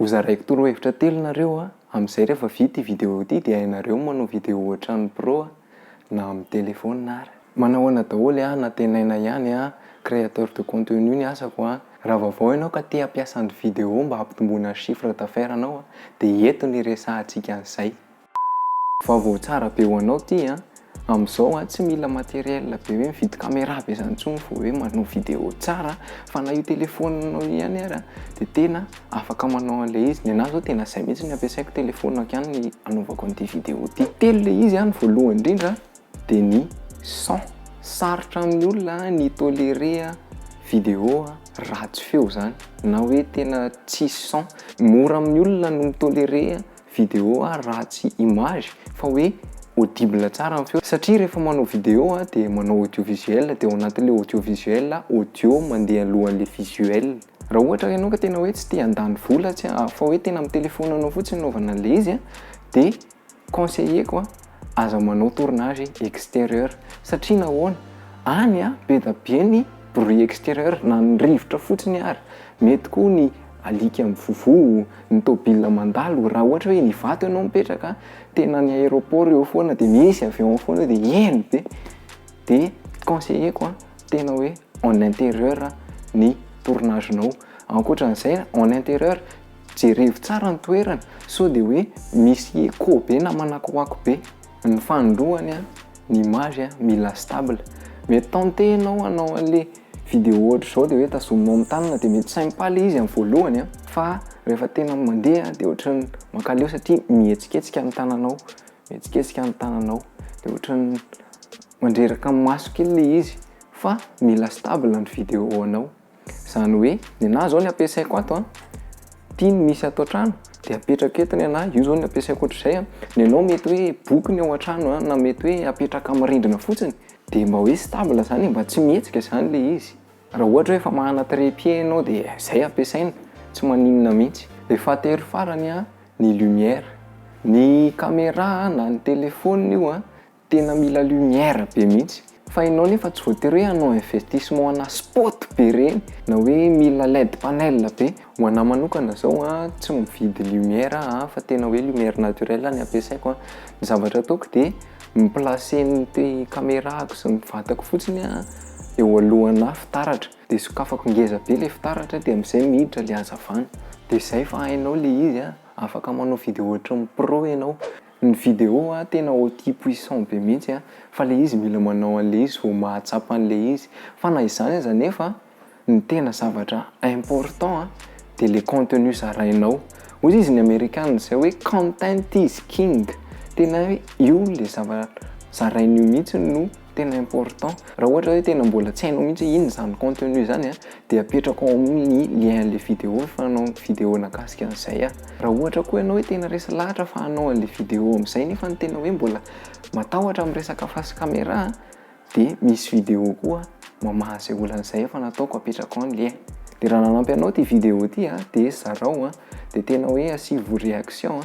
Ho zaraiko toro hevitra telo nareo a, amzay refa vita ity video ity de hainareo ny manao video ohatran'ny pro a, na amin'ny telephone ar. Manahoana daholo a, nantenaina ihany a, créateur de contenu ny asako a, raha vaovao ianao ka te hampiasa ny video mba hampitomboana ny chiffre d'affaires nao a, de eto ny hiresahantsika an'izay. Vaovao tsara be ho anao ty an! Amin'izao an, tsy mila matériel be hoe mividy caméra be izany intsony vao hoe manao vidéo tsara fa na io téléphone-nao io ihany ary dia tena afaka manao an'ilay izy. Ny anahy izao tena izay mihitsy no ampiasaiko, téléphone-ko ihany no anaovako an'ity vidéo ity. Telo ilay izy an, ny voalohany indrindra dia ny son, sarotra amin'ny olona ny hi-tolérer vidéo ratsy feo izany na hoe tena tsisy son. Mora amin'ny olona ny mi-tolérer Video a raha tsy image fa hoe audible tsara ny feo satria rehefa manao video a dia manao audio visuel dia ao anatin'ilay audio visuel a audio mandeha alohan'ilay visuel. Raha ohatra ianao ka tena hoe tsy te handany vola tsy fa hoe tena amin'ny telephone-nao fotsiny anaovana an'ilay izy a dia conseiller-ko a Aza manao tournage exterieur satria nahoana? Any a be da be ny bruit exterieur na ny rivotra fotsiny ary mety koa ny alika mivovoa, ny tôbila mandalo raha ohatra hoe Ivato ianao mipetraka tena ny aéroport eo foana dia misy avion ao foana dia heno be de conseilleko a tena hoe en interieur ny tournage nao ankoatran'izay en interieur Jerevo tsara ny toerana sao dia hoe misy echo be na manakoako be ny fanindroany an, ny image an, mila stable. Mety tenter ianao hanao anle video ohatr'izao dia hoe tazominao amin'ny tanana dia mety sympa le izy amin'ny voalohany an, fa rehefa tena mandeha dia ohatran'ny mankaleo satria mihetsiketsika ny tananao, mihetsiketsika ny tananao dia ohatran'ny mandreraka ny maso kely le izy fa mila stable ny video anao. Izany hoe ny anah izao ny ampiasaiko ato an, ity no misy ato an-trano dia apetrako eto ny anah, io izao ny ampiasaiko ohatr'izay an, ny anao mety hoe boky ny ao an-trano an, na mety hoe apetraka amin'ny rindrina fotsiny dia mba hoe stable izany e, mba tsy mihetsika izany ilay izy. Raha ohatra hoe efa manana trépied ianao dia izay ampiasaina, tsy maninona mihitsy. Ilay fahatelo farany an, ny lumière. Ny caméra na ny téléphone io an, Tena mila lumière be mihitsy. Fa enao nefa tsy voatery hoe hanao investissement ana spot be reny na hoe mila led panel be. Ho anah manokana zao a, tsy mividy lumière aho fa tena hoe lumière naturelle ny ampiasaiko a. Ny zavatra ataoko dia mi placer ny camerako sy ny vatako fotsiny a eo alohanà fitaratra. Dia sokafako ngeza be le fitaratra dia am'zay miditra le hazavana. Dia zay fa hainao le izy a, afaka manao vidéo ohatry ny pro enao. Ny vidéo a tena oty puissant be mihitsy a fa le izy mila manao anle izy vao mahatsapa anle izy fa na izany aza nefa ny tena zavatra important a de le contenu zarainao ozy izy ny amerikana zay hoe content is king tena hoe io le zava zarain'io mihitsy no tena important raha ohatra hoe tena mbola tsy hainao mihitsy hoe inona izany contenu izany a dia apetrako ao amin'ny lien an'ilay vidéo ny fanao vidéo nahakasika an'izay a raha ohatra koa ianao hoe tena resy lahatra fa hanao an'ilay vidéo amin'izay nefa ny tena hoe mbola matahotra amin'ny resaka face caméra a dia misy vidéo koa mamaha izay olana izay efa nataoko apetrako ao ny lien dia raha nanampy anao ity vidéo ity a dia zarao a dia tena hoe asivo réaction a